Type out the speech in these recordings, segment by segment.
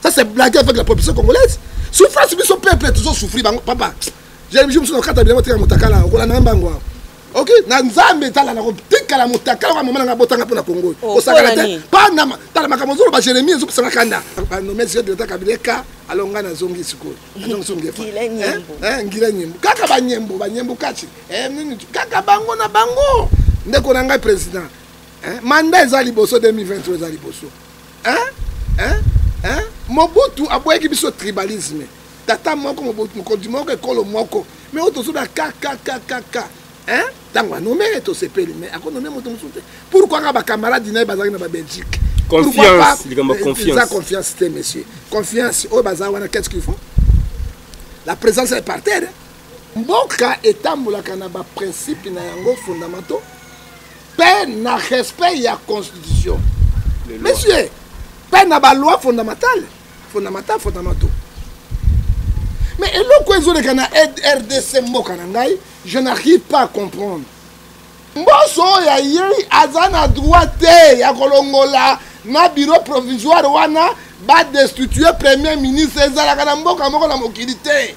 ça c'est blague avec la population congolaise souffrance biso peuple toujours souffrir bango papa j'ai biso biso nakata biloko tika motakala okola na mbango awa ok na nzambe tala nakotikala motakala oka mama nanga botanga mpo na kongo oh, osakana te panama tala makambo ozoloba jeremie ezopesanga kanda nomesi yo dilata kabila eka alo ngai nazongi sikoyo nazongisongefa ngila nyembo kaka banyembo banyembo kati eh, kaka bango na bango ndeko na ngai président manda eza liboso 2023 eza liboso hein? Hein? Hein? mobutu aboyaki biso tribalisme tata moko mokonzi moko ekolo moko me oyo tozoda kkkk ntango anome ye tosepeli me akonome moto mosusu te pourkui nga bacamarade na ye bazalaki na babelgique eza confiance te monsieur confiance oyo baza wana qu'est ce qu'il faut la présence est par terre mboka etambolaka na baprincipe na yango fondamental mpe na respect ya constitution monsieur mpe na baloi fondamentale fondamental fondamental mais eloko ezoleka na rdc mboka na ngai je n'arrive pas à comprendre mboso oyo ayei aza na droit te ya kolongola na bureau provisoire wana badestitue premier ministre ezalaka na mboka moko na mokili te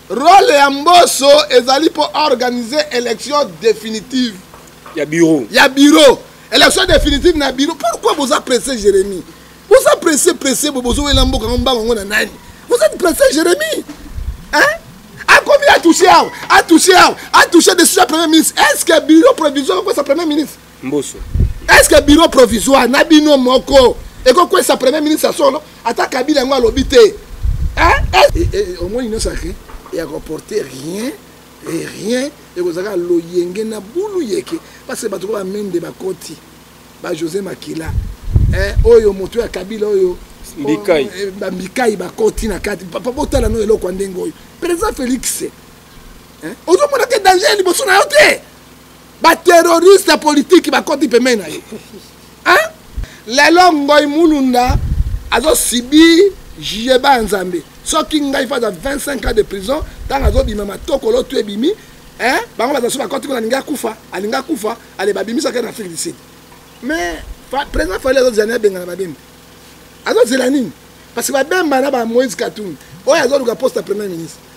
role ya mboso ezali mpo organiser élection définitive ya bureau ya bureau élection définitive na bureau pourquoi boza presse jérémie boza presse presse bo bozowela mboka yango mbango yango na nani vous êtes presse jérémie hein akomi atouche awa atouche awa atouche de soja premier ministre est ce que bureau provisoire ekosa premier ministre mboso est ce que bureau provisoire na bino moko ekokwesa premier ministre ya solo ata kabila yango alobi te omoni nyonso ake ya koporte rien e rien ekozalaka loyenge na bulu yeke parce que bato ko bamende bakoti ba josé makila eh, oyo moto ya kabila oyo mbikai eh, bambikai bakoti na kati papa botala no eloko ya ndenge oyo président félix eh, ozomona te danger liboso na yo te ba terroriste politique bakoti pembeni na ye hein? lelo ngoi mulunda azosibi jugeba ya nzambe soki ngai faza 25 ans de prison ntango azobima matokolo to ebimi hein? bango bazasu bakoti kuna alingi akufa alingi akufa ale babimisaka na afrique du sud mais président fali azozela na ebengana babemba azozela nini parce que babemba na ba moïse katumbi oyo azoluka poste ya premier ministre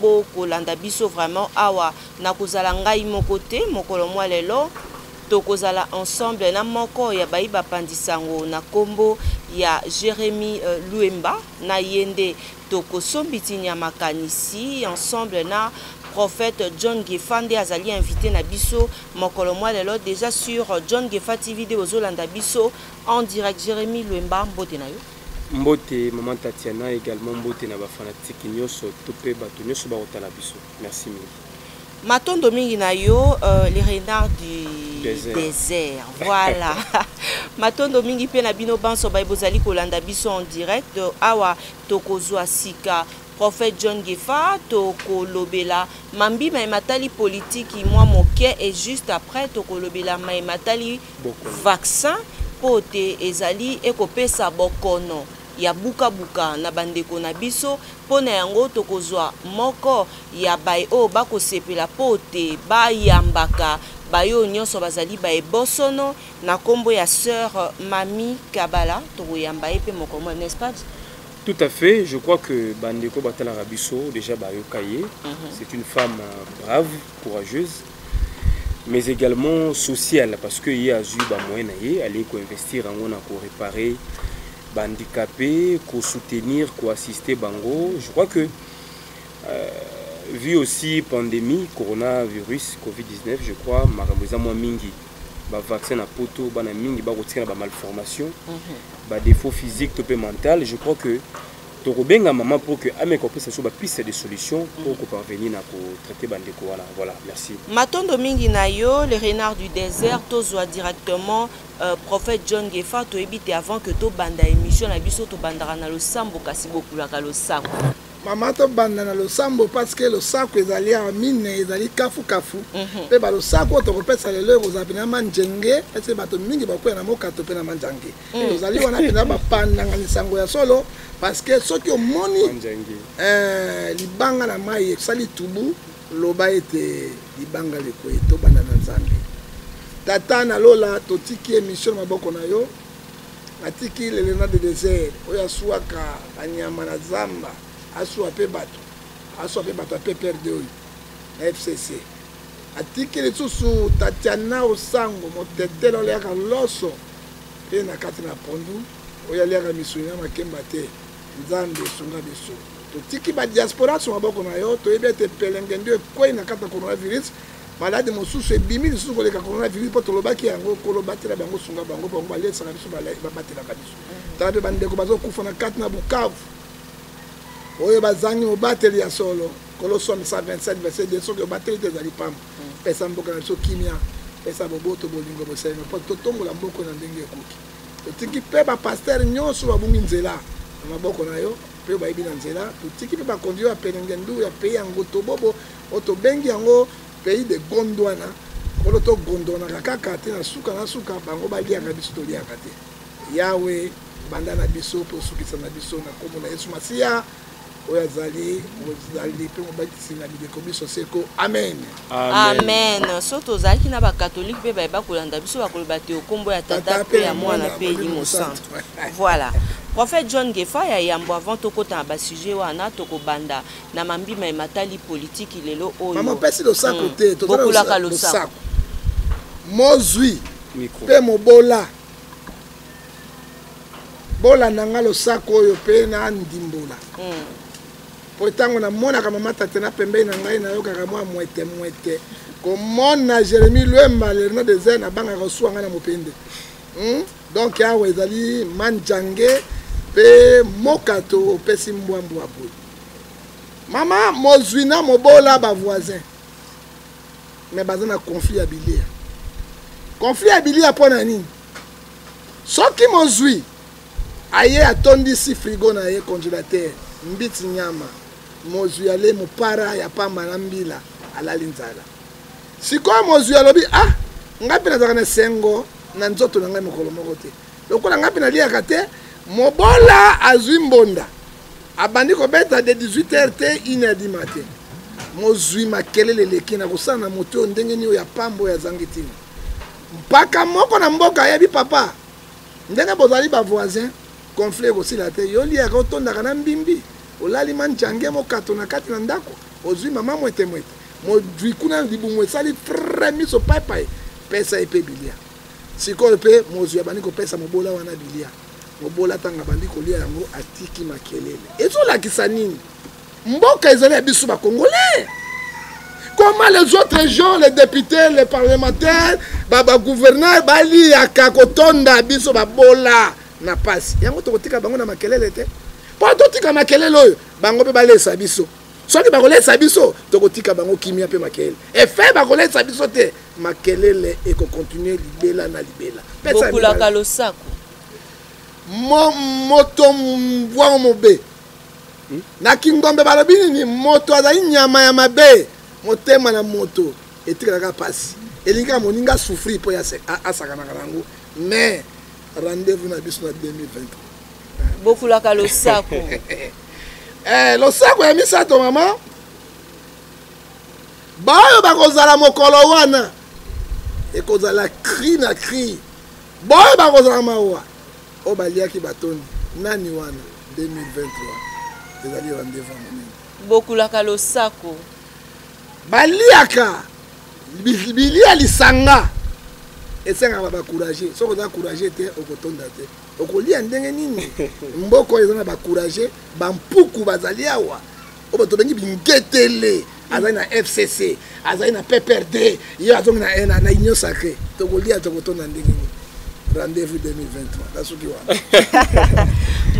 bokolanda biso vraiment awa nakozala ngai moko te mokolo mwa lelo tokozala ensemble na moko ya bayi bapandi sango na kombo ya Jeremy euh, Luemba na ye nde tokosombitinya makanisi ensemble na prophète John Gefa nde azali invité na biso mokolo mwa lelo déjà sur John Gefa TV de bozolanda biso en direct Jeremy Luemba mbote na yo Mbote maman Tatiana egalement mbote na ba fanatique nyoso to pe bato nyoso ba kotala biso. Merci mingi. Matondo mingi na yo euh, les renards du désert, désert. voilà matondo mingi mpe na bino banso baye bozali kolanda biso en direct awa tokozwa sika prophète john gefa tokolobela mambi maye matali politiki mwa moke et juste après tokolobela maye matali vaccin mpo te ezali ekopesa bokono ya bukabuka na bandeko na biso. Mpo na yango, tokozwa moko ya baye oyo bakosepela mpo te bayambaka baye oyo nyonso bazali baye bosono na nkombo ya soeur Mami Kabala. Tokoyamba ye mpe mokolo mwa n'est-ce pas? Tout à fait, je crois que bandeko batalaka biso déjà bayoka ye. Mhm. C'est une femme euh, brave, courageuse. mais également social parce que ye azwi bamoyen na ye alei koinvestir yango na korepare bahandicapé kosoutenir koassiste bango je crois que euh, vu aussi pandémie coronavirus covid-19 je crois makambo eza mwa mingi bavaccin na poto bana mingi bakotikala bamalformation mhm. badéfaut physique to mpe mental je crois que Tokobenga maman pour que ameka kopesa biso ba piste de solution pour ko parvenir na ko traiter ba ndeko wana. Voilà, merci. Matondo mingi na yo le renard du désert tozwa directement euh, prophète John Gefa toyebi te avant que tobanda émission na biso tobandaka na losambo kasi bokulaka losako. mama tobanda na losambo parce que losako ezali awa mine ezali kafukafu mpe mhm. balosako oyo tokopesa lelo ekozala mpenza manjenge ete bato mingi bakoya na mokato mpe na manjange mm. tozali wana mpenza bapandanga lisango ya solo parce que soki omoni eh, libanga na mai esali tubu loba ete libanga lekwei tobanda na nzambe tata na lola totiki emisio na maboko na yo atiki lelena de desert oyo aswaka banyama na zamba aswa mpe bato aswa mpe bato ya pprd oyo na fcc atikeli lisusu tatiana osango motetele oliaka loso mpe na kati na pondu oyo aliaka misuni na makemba te nzambe esunga biso totiki badiaspora so maboko na yo toyebi ete pelenge ndio ekwei na kati na coronavirus maladi mosusu ebimi lisusu koleka coronavirus mpo tolobaki yango kolobatela bango sunga bango bango balesaka biso babatelaka biso tala mpe bandeko bazokufa na kati na bukavu oyo bazangi mobateli ya solo Colossiens 1, 27, verset 2, soki obateli te ezali pamba. Mm. Pesa mboka na biso kimia, pesa boboto, bolingo, bosengo, mpo totombola mboka na ndenge ekoki. Totiki mpe bapastere nyonso babungi nzela na maboko na yo mpe bayebi na nzela. Totiki mpe bakonzi ya pelengendu ya pei ya ngotobobo oyo tobengi yango pays de gondwana kolo togondwanaka kaka te na suka na suka bango baliaka biso toliaka te yawe banda na biso mpe osukisa na biso na nkombo na yesu masiya oyo azali mozali mpe mobatisi na bileko biso seko amen amen so tozalaki na bakatolike mpe bayeba kolanda biso bakoloba te okombo ya tata mpe ya mwana mpe elimo santu voilà prophète john gefa ya yambo avant tokota na basujet wana tokobanda na mambima ematali politiki lelo oyopesi losako hmm. te bokulaka losako mozwi mpe mobola bolanda nga losako oyo mpe na ndimbola hmm. mpo ntango namonaka mama tate na pembei na ngai nayokaka mwa mwete mwete komona jérémi lwemba lerno deser nabangaka kosuwa ngai na mopende hmm? donk awa ezali manjange mpe mokato opesi mbwambwa boye mama mozwi na mobola bavoisin me baza na conflit ya bilia conflit ya bilia mpo na nini soki mozwi aye atondisi frigo na ye congélateur mbiti nyama mozwi ale mopara ya pamba na mbila alali nzala sikoyo mozwi alobi ah ngai mpe nazalaka na esengo na nzoto na ngai mokolo moko te lokola ngai mpe naliaka te mobola azwi mbonda abandi kobeta de 18 heure te 1 heure du matin mozwi makelele eleki na kosala na moto oyo ndenge nini oyo ya pamba oyo azangi ntina Mpaka moko na mboka ayebi papa ndenge bozali ba voisin conflit ekosila te yo liaka otondaka na mbimbi olali manjange mokato na kati na ndako ozwi mama mwete mwete mozwi kuna libumu esali fre miso paipai pesa ye mpe bilia sikoyo mpe mozwi abandi kopesa mobola wana bilia mobola ntango abandi kolia yango atiki makelele ezolakisa nini mboka ezali ya biso ba congolais comment les autres gens les députés les parlementaires bagouverneur baliyaka kotonda biso babola na mpasi yango tokotika bango na makelele te mpo totika makelele oyo bango mpe balesa biso soki bakolesa biso tokotika bango kimia mpe makelele efe bakolesa biso te makelele ekokontinue libela na libela bokulaka losako moto mbwango mobe hmm? na kingombe balobi nini moto azali nyama ya mabe motema na moto etikalaka mpasi elingi ya moninga asouffrir mpo asakanaka na yango mais rendez-vous na biso na 2023 bokulaka losako eh, losako ya misato mama baoyo bakozala mokolo wana ekozala cri na cri baoyo bakozala mawa oyo baliaki batondi nani wana 2023 ezali rendez-vous ya monene bokulaka losako baliaka bilia lisanga esengaka bacourage soki oza courage te okotonda te okolia ndenge nini mboko eza na bacourage bampuku bazali awa oyo bato babengi bingetele azali na fcc azali na pprd ye azongi na eh, na union sacré tokolia tokotonda ndenge nini rendez-vous 2023 nasuki wana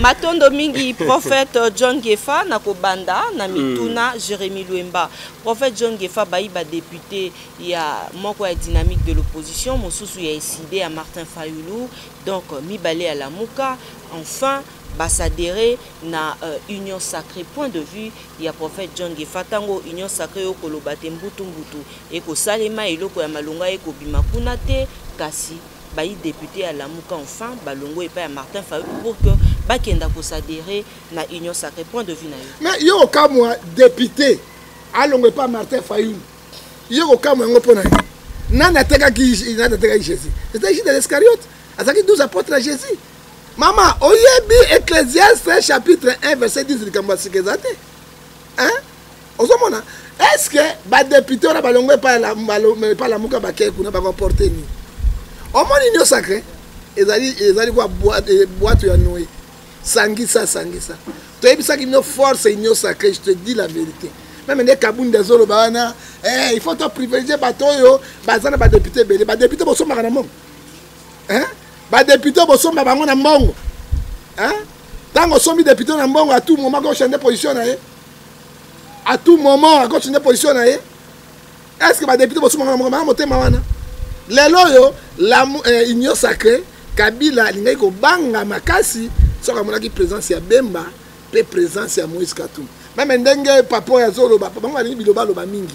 matondo mingi prophète john gefa na kobanda na mituna mm. jérémi lwemba prophète john gefa bayi badepute ya moko ya dynamique de l'opposition mosusu ya eside ya martin fayulu donc mibale ya lamuka enfin ba s'adherer na uh, union sacrée point de vue ya prophète John Gefa tango union sacrée okoloba te mbutu mbutu ekosalema eloko ya malonga ekobima kuna te kasi bayi député ya Lamuka enfin balongo epai ya Martin Fayulu pour que bakenda ko s'adhérer na union sacrée point de vue na yo mais yo okamwa député alongo epai Martin Fayulu yo okamwa yango mpo na yo nani atekaki nani atekaki Jésus c'était Judas Iscariote azalaki 12 apôtres ya Jésus mama oyebi ecclesiaste chapitre 1 verset 10 likambo ya sika eza te ozomona est ce que badepute wana balongo epai lamuka bakei kuna bakoporte nini omoni nio sacre ezali ezali kwa bwato eh, ya noe sangisa sangisa toyebisaki bino force union sacré je te dis la vérité meme nde kabundi azoloba wana eh, il faut toprivilégie bato oyo baza na badepute ebele badepute bosombaka na mongo hein? ba député bosomba bango na mbongo hein? ntango osombi député na mbongo à tout moment ko changer position na ye à tout moment ako changer position na ye est ce que ba député bosomba bango na mbongo banga motema wana lelo oyo la eh, union sacrée kabila alingaki kobanga makasi soki amonaki présence ya bemba mpe présence ya moïse katumbi meme ndenge papa oyo azoloba bango balingi bilobaloba mingi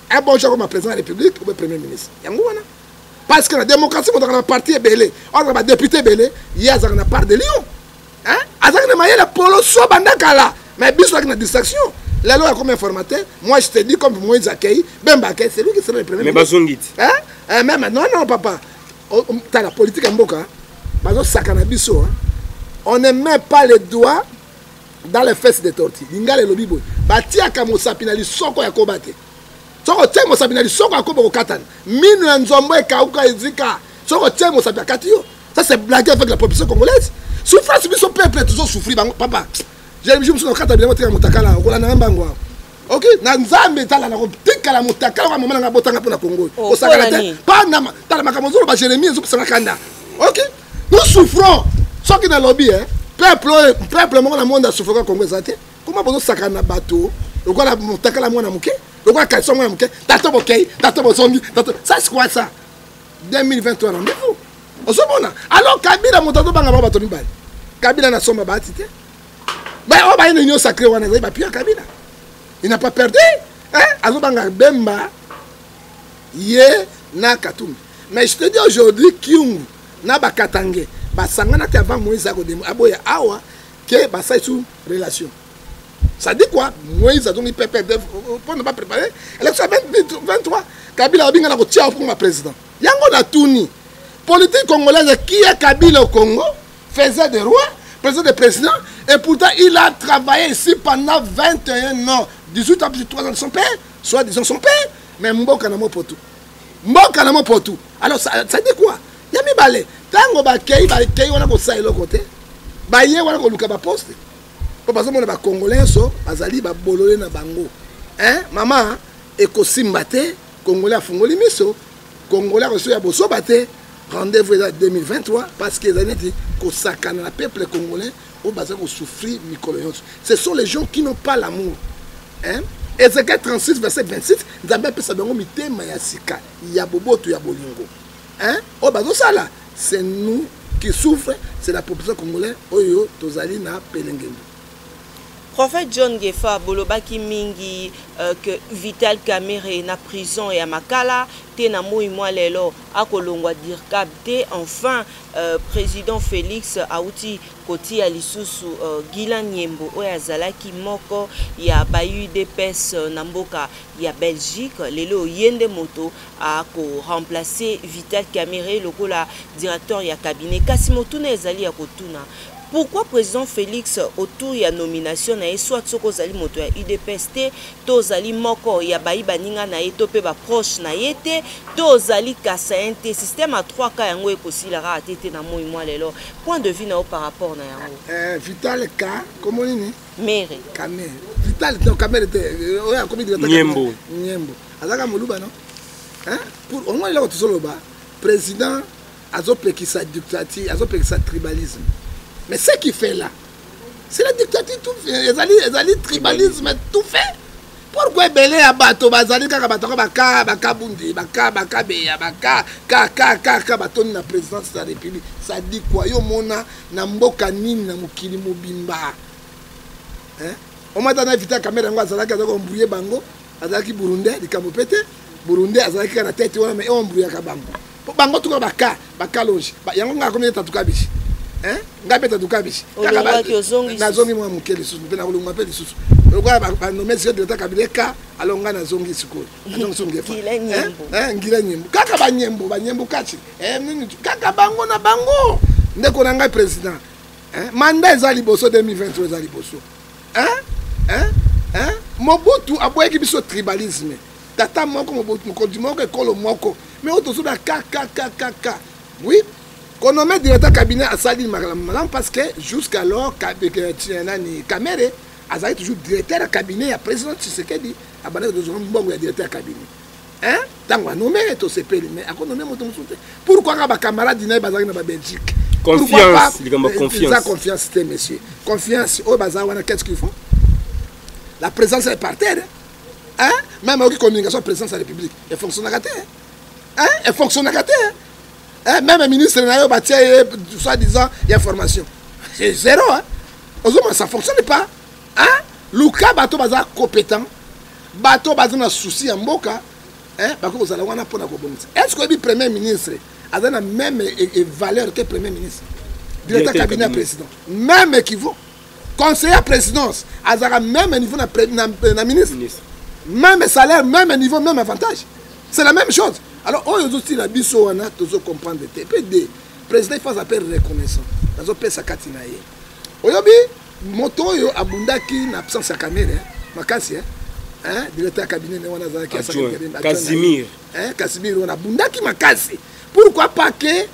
un bon jour comme président de la république ou premier ministre yango wana parce que la démocratie moto na parti ebele oza ba député ebele ye azalaka na part de lion hein azalaka na mayele polo so banda kala mais biso azalaki na distraction lelo ya comme informateur moi je te dis comme moïse akei bemba akei c'est lui qui sera le premier mais bazongi ti hein eh, même non non papa oh, oh, tala politique ya mboka bazosaka na biso on ne met pas le doigt dans les fesses de torti lingala elobi boye batiaka mosapi na lisoko ya koba te soki otie mosapi na lisoko ya koba okokatana mino ya nzombo ekauka ezika soki otie mosapi akati yo ça c'est blague avec la population congolaise souffrance biso peuple tozosouffri bango papa je mosusu nakata bilango tika motakala okolanda nga mbango awa ok na nzambe ezala na kotikala motakala oka mama nanga botanga mpo na kongo oyo oh, osakana te panama tala makambo ozoloba jérémie ezokosanga kanda ok nous souffrons soki nalobi e peuple oyo peuple moko na monde asouffraka kongo eza te koma bozosakana na bato lokola motakala mwana moke lokola kalisa mwana moke tato bokei tato bozongi tato ça c'est quoi ça 2023 rendez-vous ozomona alors kabila moto azobanga bango bato mibale kabila nasomba baati te ba oyo baye na union sacré wana ezali bapio ya kabila il n'a pas perdu azobanga bemba ye na katumbi mais je te dis aujourd'hui kiungu na bakatange basanganaki avant moïse akodemo aboya awa ke basali su relation ça dit quoi moïse azongi pepe mpo na baprépare élection ya 23 kabila abinga na kotia okoma président yango natuni politique congolaise kia kabila au congo faisait des rois, faisait des présidents, et pourtant il a travaillé ici pendant 21 ans, 18 ans, 3 ans de son père, soit disant son père, mais Mboka n'a pour tout. Mboka n'a pour tout. Alors ça, ça dit quoi Il y a mis balai. Tango ba kei, ba kei, on a pour ça et l'autre côté. Ba yé, on a pour le ba poste. Pour passer mon ba congolais, so, bazali ba bololé na bango. Hein, maman, et ko simbate, congolais a fongoli miso, congolais a reçu ya bosoba te, rendez-vous eza 2023 parce que ezali neti kosakana na peuple congolais oyo baza kosouffrir mikolo nyonso ce sont les gens qui n'ont pas l'amour hein? ezekiel 36 verset 26 nzambe apesa bango mitema ya sika ya boboto ya bolingo hein? oyo bazosala c'est nous qui souffre c'est la population congolais oyo tozali na pelengendo prophète john gefa bolobaki mingi euh, que vital camere na prison ya makala te na moi mwa lelo akolongwa dircab te enfin euh, président félix auti kotia lisusu euh, gilan nyembo oyo azalaki moko ya baudps euh, na mboka ya belgique lelo oye nde moto akoremplace vital camere lokola directeur ya cabinet kasi motuna ezali ya kotuna pourquoi président félix autour ya nomination na ye soit soki ozali moto ya udps te to ozali moko ya bayi baninga na ye to mpe baproche na ye te to ozali kasayen te système ya 3 ka yango ekosila kaka te te na moi mwa lelo point de vue na yo par rapport na yango eh, vital ka komo nini mere kamere vital no kamere te eh, oyo akomi nyembo nyembo azalaka moluba no pour omoi eloko tozoloba président azopekisa dictature azopekisa tribalisme mais ce qui fait là c'est la dictature tout fait ezali ezali tribalisme tout fait pourquoi ebele ya bato bazali kaka bato yango baka bakabundi baka bakabeya baka kakakaka batondi na présidence ya république sadi kua yo omona na mboka nini na mokili mobimba omata na vita kamere yango azalaki azalaki ombrouye bango azalaki burundais likambo mpe te burundais azalaki kaka na tete wana ma eombruyaka bango po bango tuka baka bakalonge yango ngai akomi ete atuka bishi eh? ngai mpe tatuka bishi nazongi mwa moke lisusu mpe nakolongwa mpe lisusu lokola banome sio direkta kabila eka alo ngai nazongi sikoyo azongisongila nyembo kaka banyembo banyembo kati eh, kaka bango na bango ndeko na ngai président eh, manda eza liboso 2023 eza liboso mobutu aboyaki biso tribalisme tata moko mokonzi moko ekolo moko me oyo tozoba kkkk oui konome directeur cabinet asali malamu malamu parce que jusqu'alors euh, nani kamere azali toujours directeur ya cabinet ya président tshisekedi abandaki tozwa mbongo ya directeur ya cabinet hein ntango anome tosepeli mais akonome moto mosusu te pourkui kaka bacamarade na ye bazalaki na babelgique confiance likambo confiance eza confiance te monsieur confiance oyo baza wana qu'est ce qu'il faut la présence est par terre hein même oki communication présidence ya république efonctionnaka te hein efonctionnaka te hein même ministre na yo batia ye soit disant ya formation c'est zéro hein ozomona ça fonctionne pas hein luka bato baza compétent bato baza na souci ya mboka hein bakoki kozala wana mpo na kobongisa est ce que oyebi premier ministre aza na même valeur te premier ministre directeur cabinet ya président même équivaut conseiller ya présidence azalaka même niveau na, na, na ministre même salaire même niveau même avantage c'est la même chose alors oyo ozotila biso wana tozo comprendre te mpe de président ifo aza mpe reconnaissant nazopesa kati na ye oyobi moto oyo abundaki na absence ya kamere makasi eh? hein, directeur ya cabinet ne wana azalaki casimir wana abundaki makasi pourquoi pas ke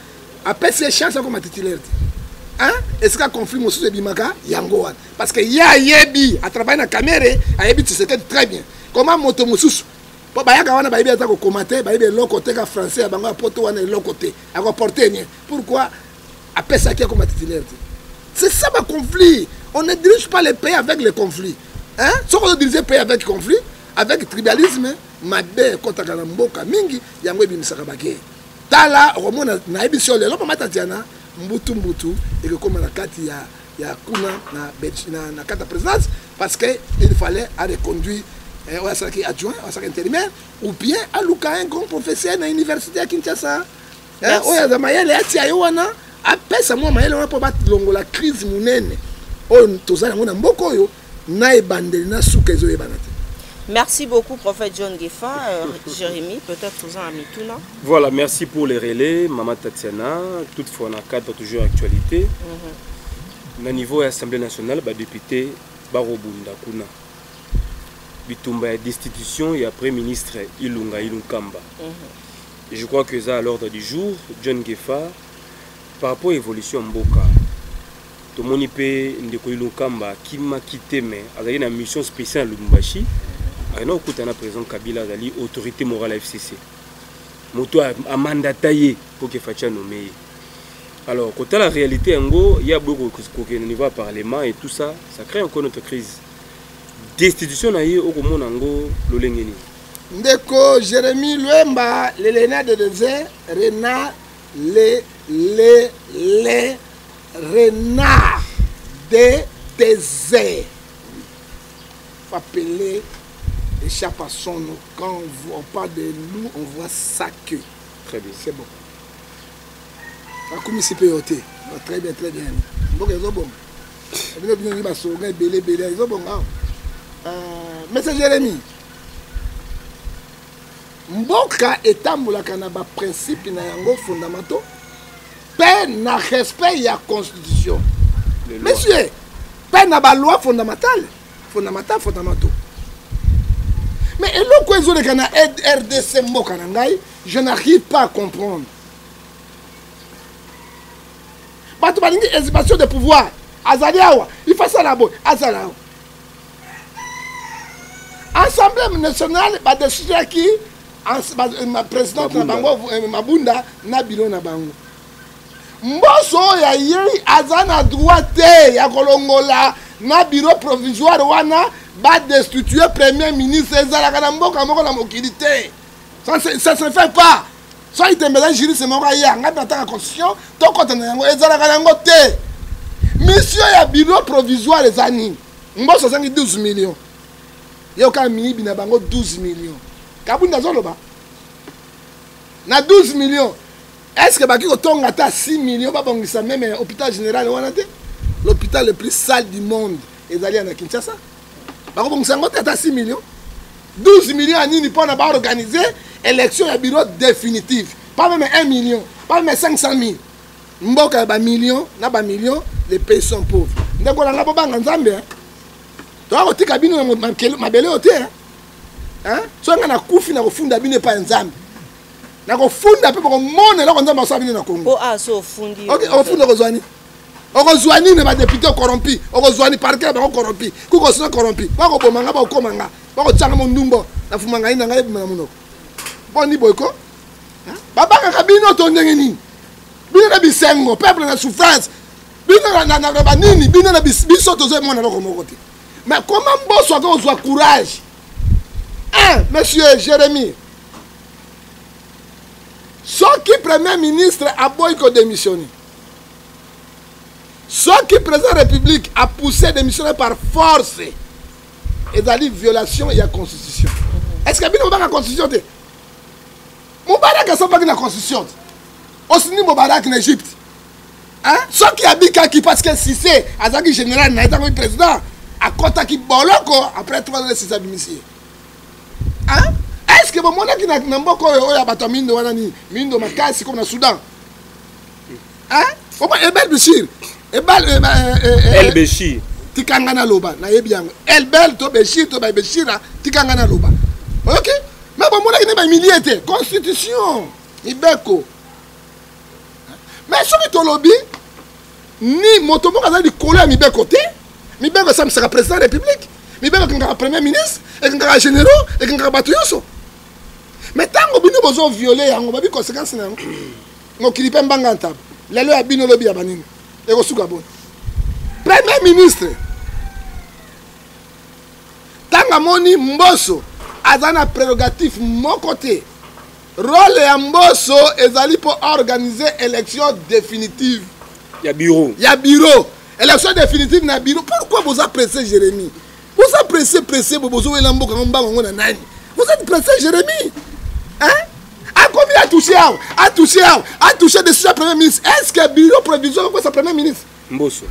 apesi ye chance akoma titulaire te esika conflit mosusu ebimaka yango wana parce que ye ayebi atravaille na camere ayebi tisekedi très bien koma moto mosusu mpo bayaka wana bayebi ata kokoma te bayebi eloko te ka français ya bango ya poto wana eloko te akoporte nien pourquoi apesaki akoma titulaire te c'est ça baconflit on ne dirige pas le pays avec le conflit hein? soki ozodirige pays avec conflit avec tribalisme mabe ekɔtaka na mboka mingi yango ebimisaka bakeye tala okomona nayebisi yo lelo mama tatiana mbutu mbutu ekokoma na kati ya ya kuna na, na, na kati ya présidence parce que il fallait areconduire eh, oyo asalaki adjoint oyo asalaki intérimaire ou bien aluka un grand professeur na université ya kinshasa eh, oyo aza mayele atia ye wana apesa mwa mayele wana mpo balongola crise monene oyo tozali yango na mboka oyo na ebandeli na suka ezoyebana te Merci beaucoup, prophète John Gefa, euh, Jérémy, peut-être vous en avez tout, non Voilà, merci pour les relais, Maman Tatiana, toutefois on a cadre toujours actualité. Mm -hmm. Na niveau de l'Assemblée nationale, bah, député Barobunda Kuna, bitumba ya destitution ya Premier ministre Ilunga Ilunkamba. Mm -hmm. Je crois que ça à l'ordre du jour, John Gefa, par rapport à l'évolution Mboka, tomoni mpe ndeko ilokamba akimaki te me azali na mission spéciale ya lubumbashi ayina kokuta na président kabila azali autorité morale ya fcc moto amandata ye mpo ke faci anome ye alors kotala réalité yango ye aboyi kokende niveau ya parlement et tout ça ça crée encore notre crise destitution na ye okomona yango lolenge nini ndeko jérémi lwemba lelena de dese rena le le le renard de désert appeler échappe à son nom. Quand on voit pas de loup, on voit sa queue. Très bien. C'est bon. akumisi mpe yo te très bien très bien mboka ezobonga bino bino ngi basoga ebele ebele ezobonga awa mesa jérémie Mboka etambolaka na ba principe na yango fondamental pe na respect ya constitution. Monsieur, pe na ba loi fondamentale, fondamental fondamental. Mais eloko ezoleka na RDC mboka na ngai, je n'arrive pas à comprendre. bato balingi exhibition de pouvoir azali awa ifasala boye azala awa assemblée nationale badesijaki président na bango eh, mabunda na biro na bango mboso oyo ayei aza na droit te ya kolongola na biro provisoire wana badestitue premier ministre ezalaka na mboka moko na mokili te ça se fait pas soki tembela juriste moko aya ngai nataka constitution tokota na yango ezalaka yango te misio ya bureau provisoire eza nini mboso azangi 12 million yoka miyibi na bango 12 million kabunda azoloba na 12 million est ce que baki kotonga ata 6 million babongisa meme hôpital général wana te l'hôpital le plus sale du monde ezali ya na kinshasa bakobongisa yango te ata 6 million 12 million ya nini mpo na baorganize élection ya bureau définitive pas meme 1 million pas meme 500 000 mboka ya bamillion na bamillion les pays sont pauvres ndeko na ngai bobanga nzambe toya kotika bino na mabele oyo te soki ngai nakufi nakofunda bino epai ya nzambe nakofunda mpe bokomona eloko nzambe asala bino na kongo ofunda kozwani okozwa nini ba député corrompu okozwa ni parquet bango corrompu kuko sina corrompu bako boma nga bako koma nga bako tsanga mon ndumbo na fuma ngai na ngai bima na munoko boni boyko ba baka ka bino to ndenge nini bino na bisengo peuple na souffrance bino na na na ba nini bino na biso tozo mona loko moko te mais comment boso ako ozwa courage hein monsieur Jérémie soki premier ministre aboyi ko démissionner soki président république a poussé démission par force ezali violation ya constitution est ce que bino bobaka constitution te mobaraki asombaki na constitution te osini mobaraki na égypte soki abikaki parce que sise azalaki général na ye ntango président akɔtaki boloko après trois ans sise abimisi ye est ce que bomonaki na mboka oyo oyo ya bato ya mindo wana nini mindo makasi comme na soudan oma ebel bishir ebal eh, eh, eh, el bishir tika ngai naloba nayebi yango elbel to beshir to babeshira tika ngai naloba oyoki me bomonaki nde bamilie te constitution mibeko me soki tolobi ni moto moko aza likolo ya mibeko te mibeko esambisaka président ya république mibeko ekangaka premier ministre ekangaka généraux ekangaka bato nyonso me ntango bino bozo viole yango babi conséquence na yango mokili mpe mbanga ya ntaba lelo ya bino lobi ya banini ekosuka boni premier ministre ntango amoni mboso aza na prérogative moko te role ya mboso ezali mpo organise élection définitive ya bureau ya bureau élection définitive na bureau pourquoi boza presse jérémie boza presse presse bo bozowela mboka yango mbango yango na nani vous êtes presse jérémie hein akomi atouche awa atouche awa atouche de soja premier ministre est ce que bureau provisoire ekokwesa premier ministre mboso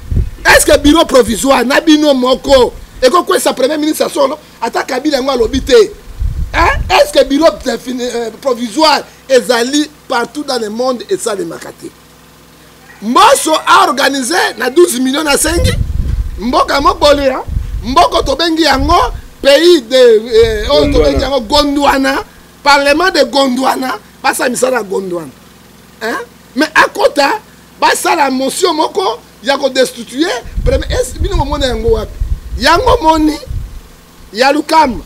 est ce que bureau provisoire na bino moko ekokwesa premier ministre ya solo ata kabila yango alobi te est ce que bureau euh, provisoire ezali partout dans le monde esalemaka te mboso a organise na 12 million asengi mboka mobolia mboko tobengi yango pays de eh, oyo tobengi yango gondwana parlement de gondwana basala misala ya gondwana mais akota basala motion moko ya kodestitue bino komona yango wapi yango moni ya lukamba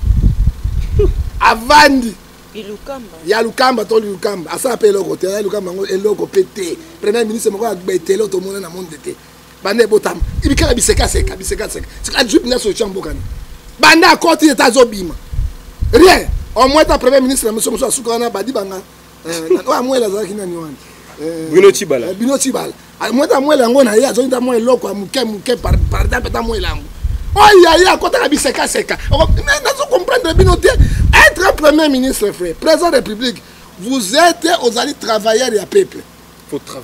avandi ya lukamba to lukamba asala mpe eloko te ya lukamba yango eloko mpe te premier ministre moko ya betelo tomona na monde te banda ebotama ibikala bisekaseka bisekaseka ajui mpenza solution mbokani banda akoti eta azobima rien omwe ta premier ministre na biso mosusu asuka wana badi banga oyo amwele azalaki nani wana bino cibala bino cibala mweta mwela yango na ye azongi ta mwa eloko ya moke moke pardampe ata mwela yango oyo yaye akotaka bisekaseka nazo comprendre bino te être premier ministre frère président de république vous êtes ozali travailleur ya peuple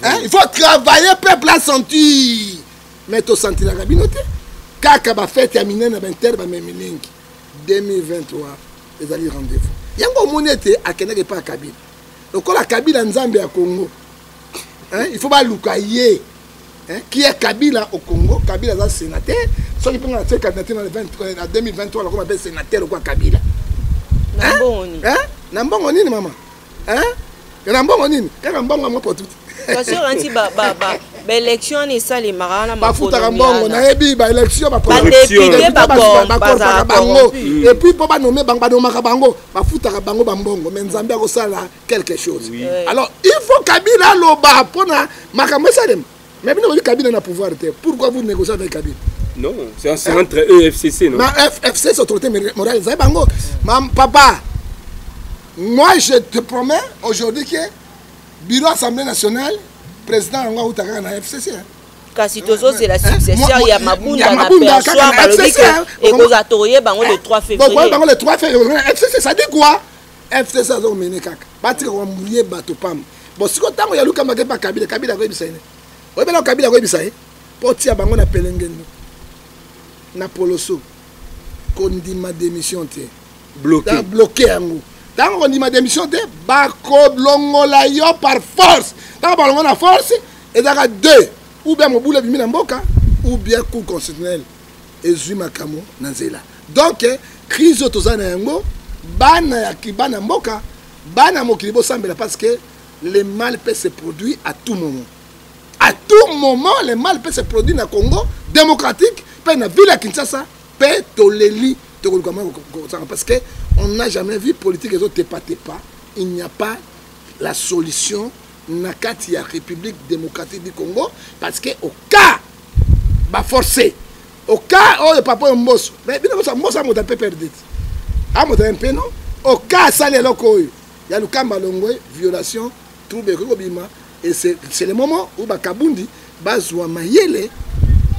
hein? il faut travailler peuple asentir mais tosentilaka bino te kaka bafete ya minene baintere bamemi mingi 2023 ezali rendez-vous yango omoni ete akendaki epai ya kabila lokola kabila nzambe ya congo hein, il faut baluka ye hein, qui est kabila au congo kabila aza sénateur soki mpe nga natie candidature na 2023 nakoma mpe sénateur lokola kabila na mbongo nini mama na mbongo nini kaka mbongo yango potuti baélection wana esalemaka wana bafutaka mbongo nayebi baélection bakorpaka bango epuis mpo banome bango banomaka bango bafutaka bango bambongo me nzambe akosala quelque chose oui. Eh. alors il faut kabila aloba mpona makambo esalema mais bino bobi kabila na pouvoir te pourquoi vous négocier avec kabila non c'est eh. entre eux et fcc non ma fcc autorité morale ezaye bango ma papa moi je te promets aujourd'hui que bureau assemblée nationale président yango auta kaka na fcc hein. kasi tozozela eh, successeur ya mabunda na persoir balobi ekozala tokoye bango le 3 février bango le 3 février fcc ça dit quoi fcc aza komene kaka batika koambuye bato pamba bon siko ntango ya lukamba ke mpa kabila kabila akoyebisa ye oyebela kabila akoyebisa ye mpo otia bango na pelengendo na poloso kondima démission te bloke yango ntango kondima démission te bakolongola yo par force ntango balongola na force ezalaka deux ou bien mobulu ebimi na mboka ou bien cour constitutionnel ezwi makambo na nzela donk crise oyo toza na yango bana ya bana mboka bana mokili bosambela parce que le mal peut se produire à tout moment à tout moment le mal peut se produire na congo démocratique mpe na ville ya kinshasa mpe toleli tokoluka mwa kosanga parce que on n'a jamais vu politique ezotepatepa il n'y a pas la solution na kati ya république démocratique du congo parce que au cas ba forcer au cas oyo papa oyo mboso mais bino bosa mboso amoto mpe perdit amotaya mpe no au cas asali eloko oyo ya lukamba longwe violation trouble ekoki kobima et c'est le moment oyo bakabundi bazwa mayele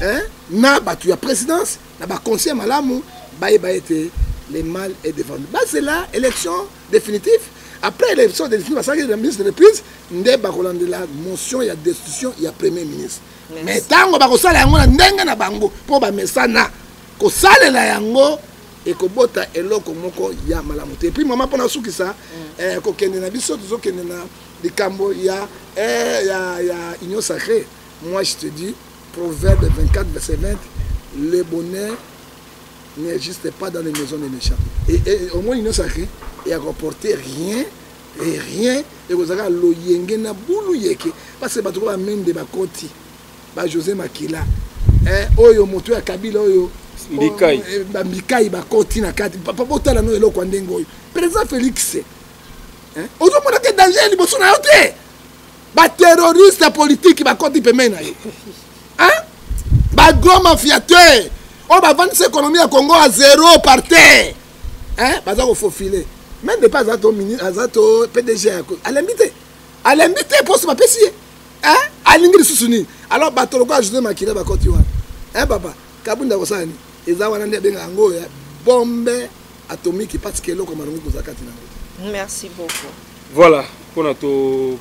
hein, na bato ya présidence na baconseil malamu bayeba ete le mal est devant nous bazela élection définitive après élection définitive basalaki la ministre de reprise nde bakolandela motion ya destitution ya premier ministre mais ntango bakosala yango na ndenge na bango mpo bamesana kosalela yango ekobota eloko moko ya malamu te epuis mama mpo nasukisa mm. eh, kokende na biso tozokende na likambo ya, eh, ya, ya union sacré moi je te dis proverbe 24 verset 20 le bonheur n'existe pas dans les maisons des méchants et, et, et au moins union sacré et à comporter rien et rien ekozala kaka loyenge na bulu yeke parce bato ko bamende bakoti ba josé makila eh, oyo moto ya kabila oyo mbikai eh, bambikai bakoti na kati papa botala no eloko ya ndenge oyo président félix eh, ozomona te danger ya liboso na yo te baterroriste ya politiki bakoti pembeni na ye bagro mafiateur oyo bavandisa ekonomi ya congo ya zero par terre eh, baza kofofile meme depa aza to aza to pdg alembi te alembi te poso bapesi ye eh, alingi lisusu nini alors bato lokola jose makila bakoti wana eh, papa kabunda kosala nini eza wana nde abenga yango oyo bombe atomiki parce que eloko malongi koza kati na yango merci beaucoup voilà mpona to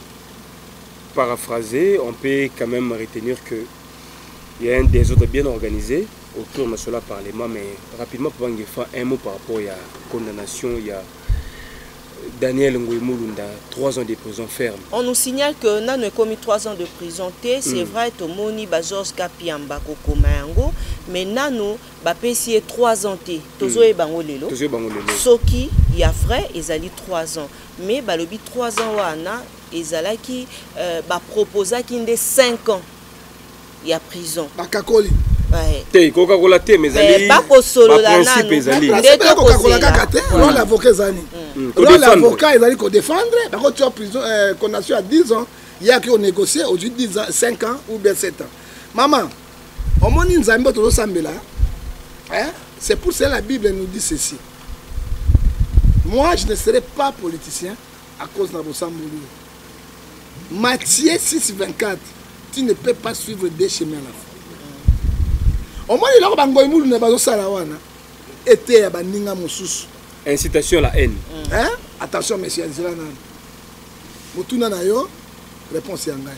paraphraser on peut quand même retenir que il y a un désordre bien organisé autour masolo ya parlement mais rapidement mpo bangefa un mot par rapport ya condamnation ya Daniel Ngoy Mulunda, 3 ans de prison ferme. On nous signale que Nano est commis 3 ans de prison. C'est mm. vrai, Tomoni, Bazors, Kapiamba, Kokomayango, mais Nano, Bapesi est 3 ans. Tozo mm. et Bangolelo. Tozo et Bangolelo. Soki, il y a vrai, ils allaient 3 ans. Mais Balobi 3 ans, Wana, ils allaient qui, euh, bah, proposaki 5 ans. ya prison bakakoli te kokakola te mais ezali bakosolola nanu nde tokokola kaka te mm. role avocat ezali mm. mm. role avocat ezali kodefendre bakotia prison euh, condamnation ya 10 ans yaki onégocier ozwi 10 ans 5 ans ou bien 7 ans mama omoni nzambe tozosambela c'est pour cela la bible nous dit ceci moi je ne serai pas politicien à cause na bosamboli Matthieu 6 24 tu ne peux pas suivre deux chemins à la fois omoni eloko bangoyi mulu na bazosala wana eteya baninga mosusu incitation la haine hein? attention monsieur azela nani motuna na yo réponse ya ngai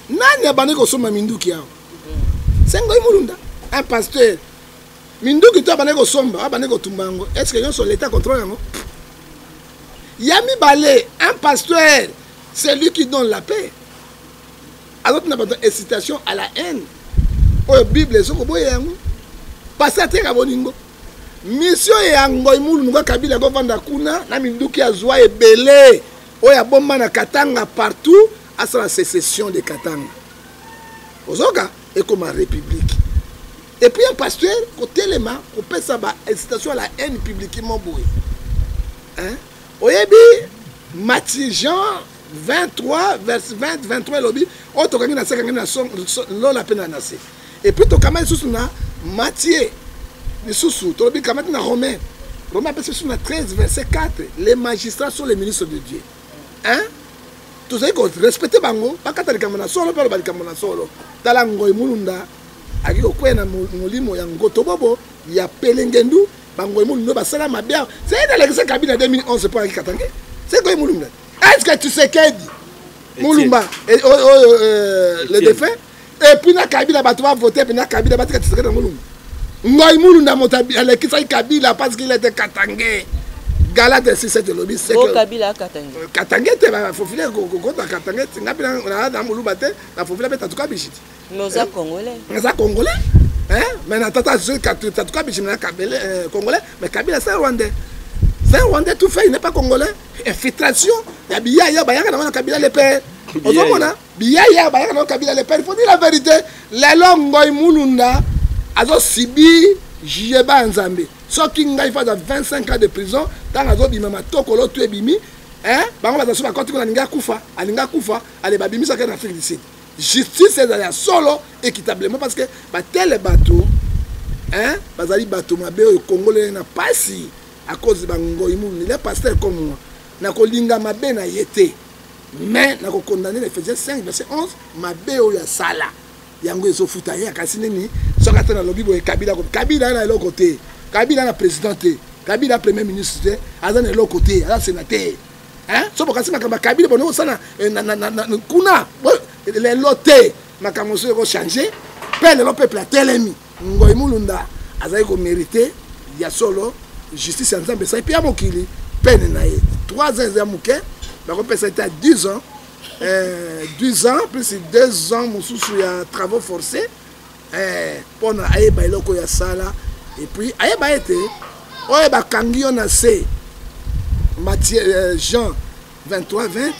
nani abandi kosomba minduki awa sengoyi mulunda un pasteur minduki to abandi kosomba abandi kotumba yango est ce que nyonso leta contrôle yango ya mibale un pasteur c'est lui qui donne la paix azotuna bato incitation à la haine oyo bible ezokoboya yango pasi ateka bolingo misio ya ngoi mulungu ya kabila akovanda kuna na minduki azwa ebele oyo abomba na katanga partout asala secession de katanga ozoka ekoma république Et puis un pasteur kotelema kopesa ba incitation à la haine publiquement boye hein? oyebi mati jean 23 verse 20 23 elobi oyo tokangi na se kangi na lola mpe na na se epuis tokama lisusu na matie lisusu tolobi kamati na romain romain apesi biso na 13 verset 4 les magistrats sont les ministres de dieu hein? tozali korespecte bango bakata likambo na solo mpe aloba likambo na solo tala ngoi mulunda Agi kokweya na molimo ya ngotobobo ya pelengendu bangoye mulumbe basala mabe awa seke nalekisa kabila 2011 mpo ayaki katange seke oye mulumbe eske tshisekedi mulumba eh, oyo oh, oh, oh, euh, le défunt epuis na kabila bato bavote mpe na kabila batika tshisekedi na mulumba ngoi mulunda moto alekisaki kabila parce qu'il était katange gala de sise tolobi sekatange te bafofile kokota katange tinga mpe na moluba te nafofila mpe tatuka bishiti Mais oza eh? congolais. Naza congolais. Hein? Mais na tata je katu tatu kabichi na kabele euh, congolais, mais kabila c'est rwandais. C'est rwandais tout fait, il n'est pas congolais. Infiltration ya biyaya bayaka na wana kabila le père. Ozomona biyaya bayaka na kabila le père. Il faut dire la vérité. Lelo ngoy mulunda azo sibi jiyeba nzambe. Soki ngai fada 25 ans de prison, tant azo bima matokolo tu ebimi, hein? Bango bazasu bakoti kuna ninga kufa, alinga kufa, ale babimisaka na Afrique du Sud. justice ezala ya solo équitablement parce que batele bato hein, bazali bato mabe oyo kongolele na pasi à cause de bangoi mulu le pasteur comme moi nakolinga mabe na ye te mais nakokondamne na ephésiens 5 verset 11 mabe oyo asala yango ezofuta ye akasi nini soki ata nalobi boye kabila kabila na eloko te kabila na président te kabila premier ministre te aza na eloko te aza sénateur hein so bokasi makambo ya kabila bono kosala eh, kuna lelo te makambo mosusu ekochange mpe lelo peuple atelemi ngoi mulunda azali komerite ya solo justice ya nzambe esali mpe ya mokili pene na ye 3 ans eza ya moke bakopesa ete ya 10 ans 10 eh, ans plus 2 ans mosusu ya travaux forcés eh, mpona ayeba eloko ya sala epuis ayeba ete oyo bakangi yo na se matie eh, jean 23 20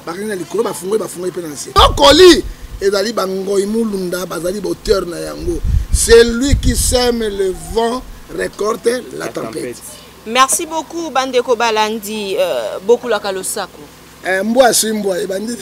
bakangi na likolo bafungoli bafungoli mpe na se okoli ezali bangoi mulunda bazali bauteur na yango celui qui sème le vent récolte la, la tempête. tempête merci beaucoup bandeko balandi euh, bokulaka losako Eh, mbwa aswi mbwa ebandi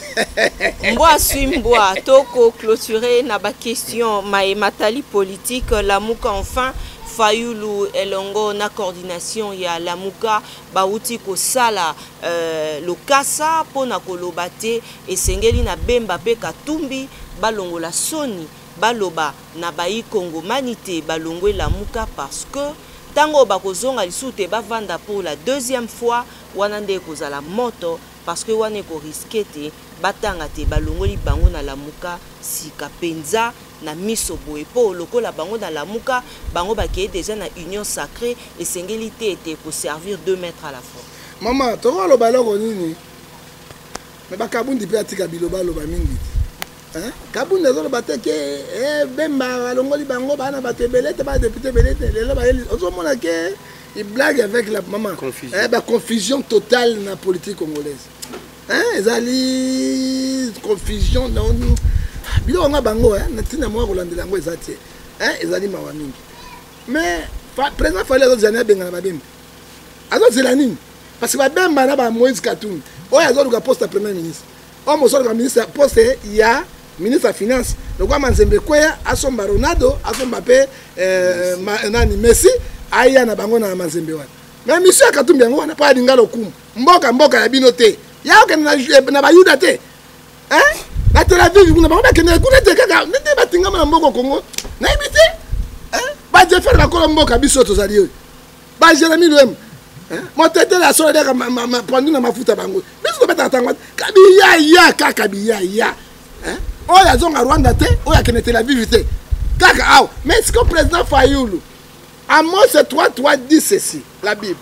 mbwa aswi mbwa toko clôturer na ba question maye matali politique lamuka enfin fayulu elongo na coordination ya lamuka bauti kosala euh, lokasa mpo na koloba te esengeli na bemba mpe katumbi balongola soni baloba na bayi kongomani te balongwe lamuka parce que ntango bakozonga lisusu te bavanda pour la deuxième fois wana nde ekozala moto parce que wana eko risque te batanga te balongoli bango na lamuka sika penza na miso boye po lokola bango na lamuka bango bakei deja na union sacrée esengeli te ete ko servir deux mètres à la fois mama tokoloba eloko nini me bakabundi mpe atika biloba aloba mingi te kabundi azoloba te ke eh, bemba balongoli bango bana bato ebele te badepute ebele te lelo ozomona ke il blague avec la maman confusion. Eh, ba confusion totale na politique congolaise hein, ezali confusion na biloko nga bango hein, na ntina moko kolandela yango eza te hein, ezali mawa mingi mais président fali azozela nini abengana babemba azozela nini parce que babemba na ba moïse katuni oyo azoluka poste ya premier ministre Omo soloka ministre poste ya ministre ya finance lokola manzembe ekweya asomba ronaldo asomba mpe eh, ma, nani messi aya na bango na manzembe wana na misio ya katumbi yango wana mpo alinga lokumu mboka mboka ya bino te ya okende na, eh, na bayuda te eh? na tel aviv kuna bango bakendeke kuna te kaka nde batingama na mboko kongo nayebi te eh? bajefere bakolo mboka biso tozali oyo ba jeremi luem motetele asolo deka pondu na mafuta bango biso tobetaka ntango kabiyaya kaka biyaya oyo azonga rwanda te oyo akende tel aviv te kaka awa mais siko président fayulu amos 3 3 dit ceci la bible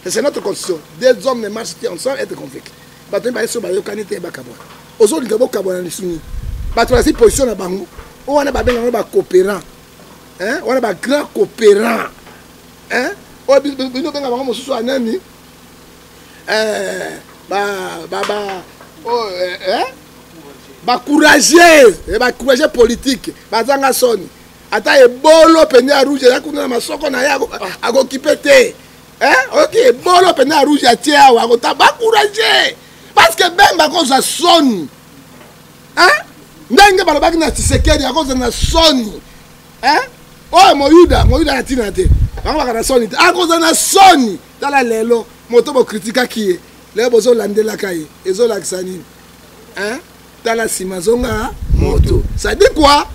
c'est notre constitution des hommes ne marchent te ensemble être convaincu bato mibale so bayokani te bakabwa ozolinga bokabwa na lisuni bato bazali position na bango oyo wana babengaka ngo bacoopérant wana bagrand coopérant eh oyo bino benga bango mosusu ya nani eh ba ba ba oh eh, eh? ba courageux eh, ba courageux politique bazanga soni ata ebolo mpenza ya rouge eza kuna na masoko na ye akokipe ah. te eh, oyoki ebolo mpenza ya rouge atie awa akota bacourage parce que bemba akozwa soni ndenge balobaki na tisekedi akozwa na soni eh? oyo moyuda moyuda na ntina te bango baka na soni te akoza na soni tala lelo moto bokritikaki ye lelo bozolandelaka ye ezolakisa nini eh? tala nsima zonga moto sadi kua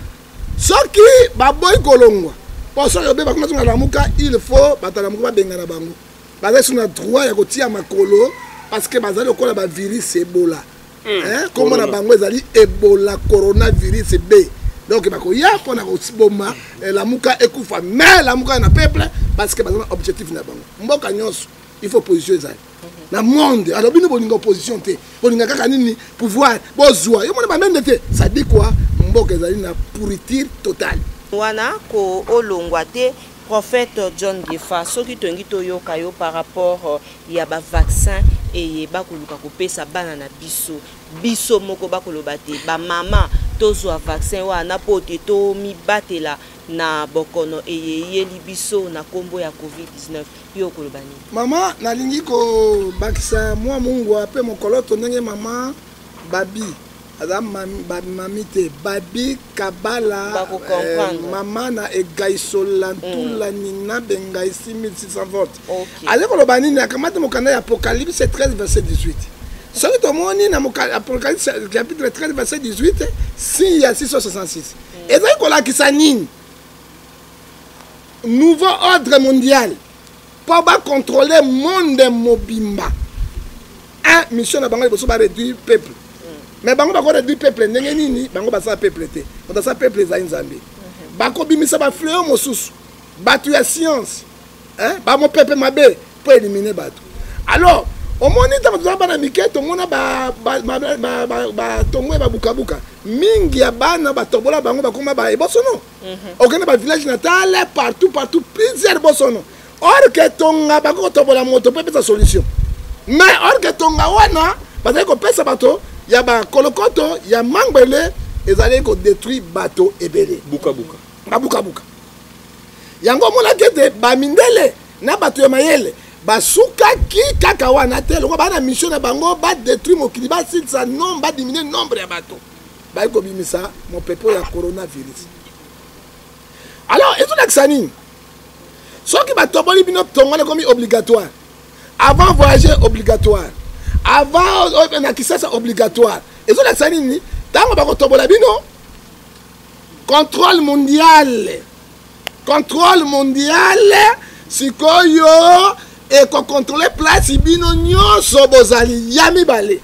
soki baboyi kolongwa mpo soki obe bakoma zonga lamuka il faut bato lamuka babengana bango bazali suna droit ya kotia makolo parce que bazali lokola bavirus ebola Eh, kombo na bango ezali ebola coronavirus b donc bakoya mpo na koboma eh, lamuka ekufa mais lamuka na peuple parce que baza na objectif na bango mboka nyonso il faut position ezali na monde alors bino bolinga opposition te bolinga kaka nini pouvoir bozwa yo mona bamende te ça dit quoi mboka ezali na pourriture totale wana koolongwa te prophète john gefa soki tolingi toyoka yo par rapport euh, ya ba vaccin eye bakoluka kopesa bana na biso biso moko bakoloba te bamama tozwa vaccin wana mpo te tomibatela na bokono eye eyeli biso na nkombo ya covid-19 yo okoloba nini mama nalingi kobakisa mwa mungwa mpe mokoloto ndenge mama babi aza bamami te babi kabala eh, mama na egaisola ntula mm. nina bengai 6600 vote aza koloba nini akamati mokanda ya apocalypse 13 verset 18 soki tomoni na apocalypse chapitre 13 verset 18 signe ya 666 ezali kolakisa nini nouveau ordre mondial mpo ba contrôler monde mobimba un mission na bango liboso ba réduire peuple mais bango bako réduire peuple ndenge nini bango basala peuple te moto asala peuple ezali nzambe bakobimisa bafleo mosusu bato ya science bamopepe mabe mpo élimine bato alors omoni ntango tozala bana mike tomona batongo ya babukabuka mingi ya bana batobola bango bakoma baebosono mhm. okende ba village natale partout partout plusieurs bosono or ke tonga bako kotobola moto mpe epesa solution mais or ke tonga wana bazali kopesa bato ya bakolokoto ya mangbele ezali kodétruire bato ebele bukabuka babukabuka yango omonaki ete bamindele na bato ya mayele basukaki kaka wana te loko baa na mission na bango badétruire mokili basilisa nombre badiminue nombre ya bato baye kobimisa mopepe ya coronavirus alors ezolakisa nini soki batoboli bino tongo ekomi obligatoire avant voyage obligatoire avant euh, na kisasa obligatoire ezolakisa nini ntango bakotobola bino contrôle mondial contrôle mondial sikoyo ekokontrole place bino nyonso bozali ya mibale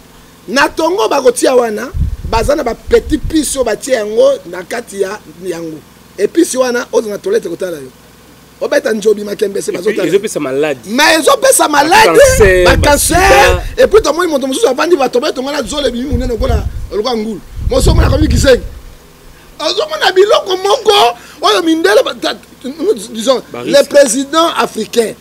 na tongo bakotia wana baza na bapetit pise oyo batie yango na kati ya yango episi wana oza na tolete kotala yo obeta njobi makembese bazotalaezopesa maladi ma ezopesa maladi bakanser epuis tomoni moto mosusu avandi bato batongana zolo ebimi monene lokola lokola ngulu mosusu omona akomi kisengi ozomona biloko moko oyo mindele disons le président africain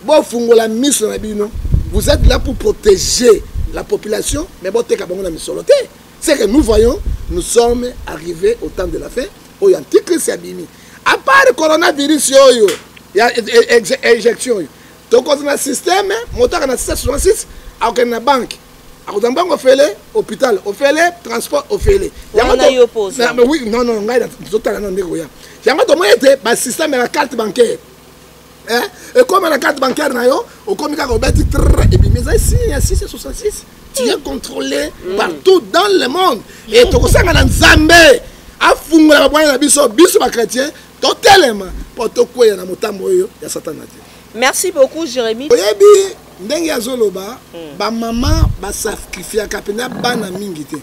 bofungola miso na bino vous êtes là pour protéger la population mais boteka bango na misolo te c'est que nous voyons nous sommes arrivés au temps de la fin oyo antichrist abimi à part coronavirus oyo ya e, e, e, éjection oyo tokoza na système moto aka na 666 akokende na banke akozwa mbango ofele hôpital ofele transport ofele oui non non ngai tozotala nano ndenge koya yango tomoni ete basystème ya carte bancaire eh, ekoma na carte bancaire na yo okomi kaka obeti tr ebimi ezali signe ya 6 66 tu es contrôlé mm. partout dans le monde e tokosanga na nzambe afungola babwani na biso biso bachrétien totelema mpo tokweya na motambo oyo ya satana te merci beaucoup jérémi oyebi ndenge azoloba mm. bamama basacrifiaka mpenza bana mingi te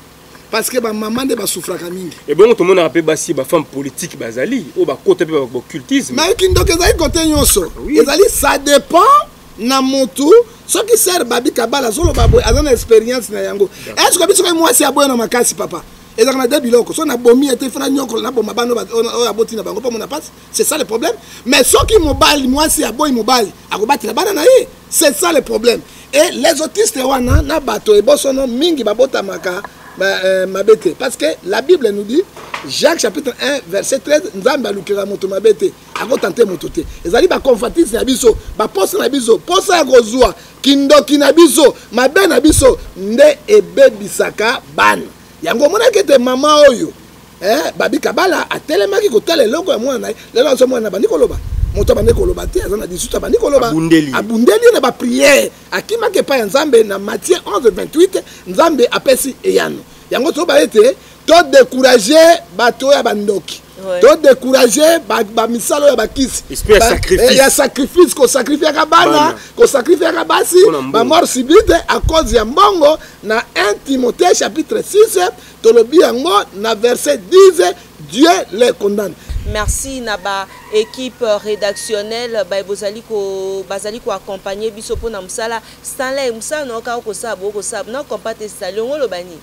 parce que bamama nde basufraka mingi ebongo tomonaka mpe basi bafemme politique bazali oyo bakota mpe bacultisme mai kindoki ezali kote nyonso ah ezali ça dépend na motu soki ser babi kabala azoloba boye aza na expérience na yango estce oyebi soki mwasi aboya na makasi papa ezalaka na de biloko soki nabomi ete fana nyokolo naboma bana oyo aboti na bango mpo mona mpasi c'est ça le problème mais soki mobali mwasi aboyi mobali akobatela bana na ye c'est ça le problème et les autistes wana na bato ebosono mingi babotamaka euh, mabe te parce que la bible nous dit jacques chapitre 1 verset 13 nzambe alukela moto mabe te akotante moto te ezali baconfatise na biso baposa na biso mposa ya kozwa kindoki na biso mabe na biso nde ebebisaka bana yango omonaki ete mama oyo eh, babi kabala atelemaki kotala eloko ya mwana na ye lelo azo mwana abandi koloba moto abandi koloba te aza na 18 abandi koloba abundeli ye na bapriere akimaki epai ya nzambe na matie 11 28 nzambe apesi eyano yango toyoba ete todécourage bato oyo ya bandoki todécourage bamisala oyo ya bakisi eh, ya sacrifice kosacrifiaka bana kosacrifiaka basi bamort subite à cause ya mbongo na 1 timothée chapitre 6 tolobi yango na verset 10 dieu les condamne merci na ba équipe rédactionnelle baye bozali ko bazali ko accompagner biso mpo na mosala stanley mosala na yo kaka kosala boko kosala na compa te stanley ongo oloba nini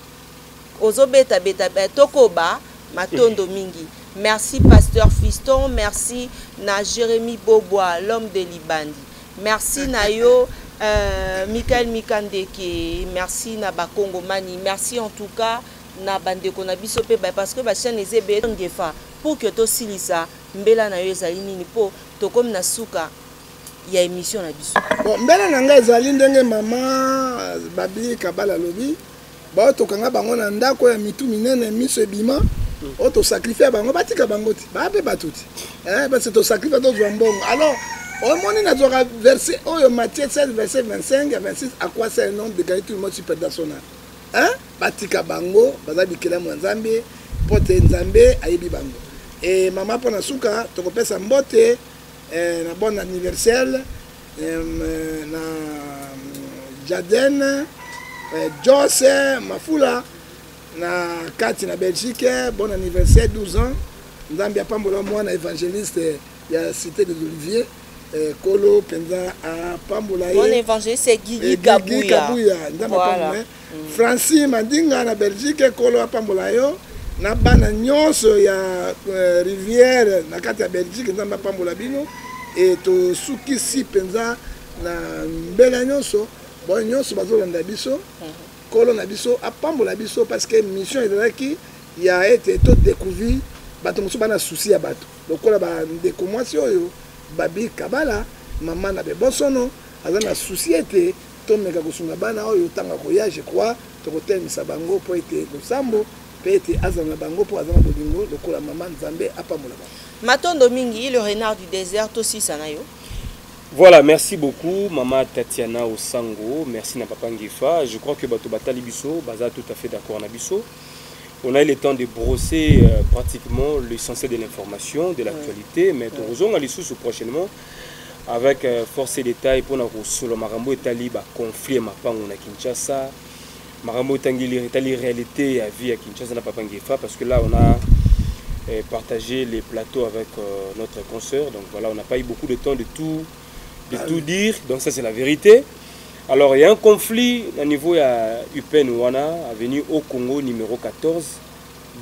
ozobetabeta eh, tokoba matondo mingi merci pasteur fiston merci na jérémie bobwa l'homme de libandi merci na yo euh, michael mikandeke merci na bakongomani merci en tout cas na bandeko na biso mpe parce que bachaine eza ebele ngefa pour que tosilisa mbela na yo ezali nini mpo tokomi na suka ya émission na biso bon mbela na ngai ezali ndenge mama babli kabala alobi baoyo tokanga bango na ndako ya mitu minene miso ebima oyo tosakrifia bango batika bango ti baa mpe bato ti eh, parce tosakrifia tozwa mbongo alors omoni nazwaka verset oyo matthieu 16 verset 25 ya 26 à quoi sert un homme de gagner tout le monde si perdant son âme hein? batika bango baza bikelamu ya nzambe mpo te nzambe ayebi bango e mama mpo na suka tokopesa mbote eh, na bon anniversaire na Jaden eh, Jos eh, Mafula na kati na Belgique eh, bon anniversaire 12 ans Nzambe apambola mwana évangéliste ya cité des Oliviers kolo mpenza apambola ye bon évangéliste Guigui Kabuya Nzambe apambola Francis Mandinga na Belgique ekolo apambola yo na bana nyonso ya euh, rivière na kati ya Belgique nzambe apambola bino e tosukisi mpenza na mbela nyonso baoyo nyonso bazolanda biso nkolo na biso apambola biso parce que mission ezalaki ya ete to découvrir bato mosusu bana susi ya bato lokola bandeko mwasi oyo babi kabala mama na bebosono aza na susi ete Tomeka kosunga bana oyo ntango akoya, je crois tokotelemisa bango mpo ete losambo mpe ete azala na bango mpo aza na bolingo lokola mama. Nzambe apambola bango. Matondo mingi le renard du desert tosisa na yo. Voilà, merci beaucoup mama Tatiana Osango, merci na papa Ngefa. Je crois que bato batali biso baza tout à fait d'accord na biso. On a eu le temps de brosser euh, pratiquement l'essentiel de l'information, de l'actualité, mais ouais. tozonga lisusu prochainement avec euh, force et détail mpona kosolo makambo etali baconflit ya mapango na kinshasa makambo etangeli etali réalité ya vie ya kinshasa na papa ngefa parce que là on a euh, partagé les plateaux avec euh, notre consoeur donc voilà on n'a pas eu beaucoup de temps de tout de tout dire donc ça c'est la vérité alors il y a un conflit na niveau ya upen wana avenue au congo numéro 14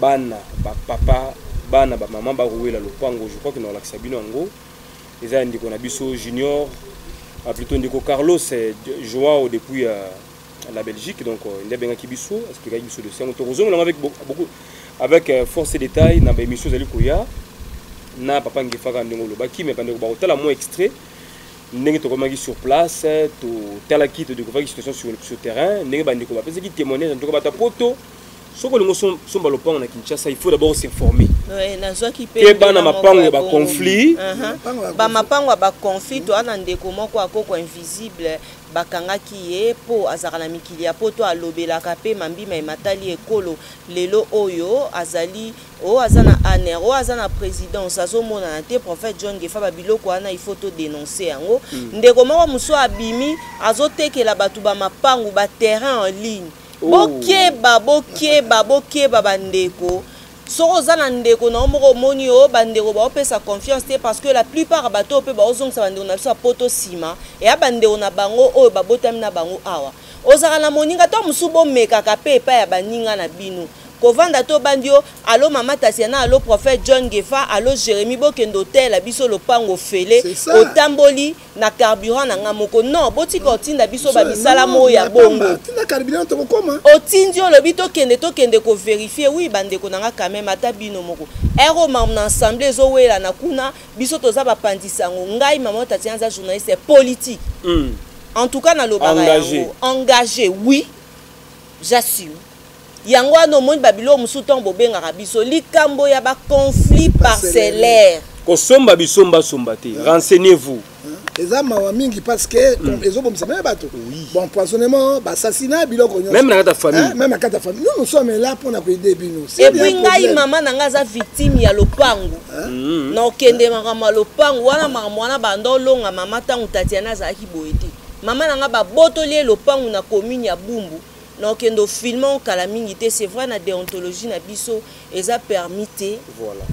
bana bapapa bana bamama bakowela lopango je crois que nakolakisa bino yango eza ya ndeko na biso junior ah, plutôt ndeko carlos eh, joao depuis euh, la belgique donc euh, nde abengaki biso explikaki biso dossier yango tokozongola yango avec beaucoup avec euh, force détail na baémission ezali koya na papa ngefaka ndenge olobaki me bandeko bakotala mwa extrait ndenge tokomaki sur place totalaki todekouvraki situation sur, sur terrain ndenge bandeko bapesaki témoignage en tout cas bata poto soki olingi osomba lopango na kinshasa il faut d'abord s'informer keba na mapango ya baconflit uh-huh. bamapango ya baconflit toa na ndeko moko akoko invisible bakangaki ye mpo azalaka na mikili ya poto alobelaka mpe mambi mai matali ekolo lelo oyo azali oyo aza na aner oyo aza na présidence azomonana te prophète john gefa babiloko wana il faut todenonce yango mm. ndeko moko mosusu abimi azotekela bato bamapangu baterrain en ligne oh. bokeba bokeba bokeba bandeko soki oza na ndeko na yo moko omoni yo bandeko baopesa confiance te parce que la plupart bato oyo mpe baozongisa bandeko na biso ya poto nsima eya bandeko na bango oyo babotami na bango awa ozalaka na moninga to mosusu bomekaka mpe epai ya baninga na bino kovanda to bandi yo alo mama tasiana alo prophète john gefa alo jérémi bokende oteyela biso lopango ofele otamboli na carburant na nga moko non botika otinda biso bamisala moko ya bongo otindi olobi tokende tokende koverifie wi bandeko na nga quand même ata bino moko ere oyo mama na ensemble ezowelana kuna biso toza bapanzi sango ngai mama tatiana aza journaliste politique mm. en tout cas nalobaka yango engagé oui j'assume yango wana omoni babiloko mosusu ntango bobengaka biso likambo ya baconflit parcellaire kosomba bisombasomba te hmm. renseignez vous hmm. eza mawa mingi parce que hmm. ezobomisa meme bato baempoisonnement basassina biloko nyonsomeme na kata famille meme na kata famille nous nous sommes là mpo na koyede bino epuis ngai mama na ngai aza victime ya lopango na okende makambo ya lopango wana makambo wana banda olonga mama ntango tatiana azalaki boye te mama na ngai babotoli ye lopango na commune ya bumbu na okende ofilme yango kala mingi te c'est vrai na deontologie na biso eza permis te voilà.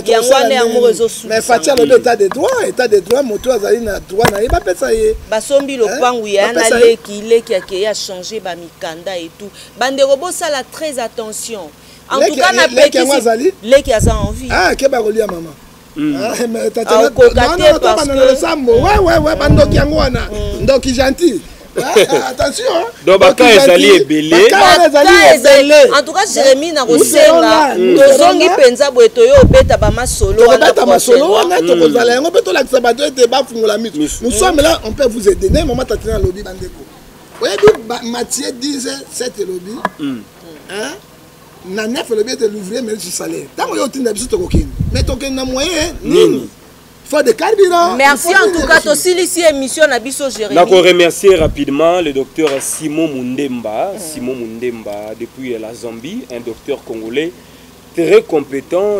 yango wana yango moko ezosumais fati alobi etat de droit etat de droit moto azali na droit na ye bapesa ye basombi lopangu ya na leki leki akeye achange bamikanda etout bandeko bosala très attention en tout cas na pekisi leki aza envie ah keba kolia mama Mm. Ah, akokoka te parce que losambo ouais ouais ouais bandoki yango wana mm. ndoki gentil donc baka ezali ebeleentouka jérémi na kosenga tozongi mpenza boye toyo obeta bamasolo wanabeta masolo wana hmm. tokozala yango mpe tolakisa bato ete bafungola miso nous sommes là on peut vous aider nde mama tatina alobi bandeko oyebi matie 10 7 elobi na nef elobi ete l'ouvrier mérite salaire ntango yo otinda biso tokokende mais tokende na moyen nini faut de carburant merci en tout cas tosilisi émission na biso jérémi nako remercier rapidement le docteur simon mundemba mm. simon mundemba depuis la zambie un docteur congolais très compétent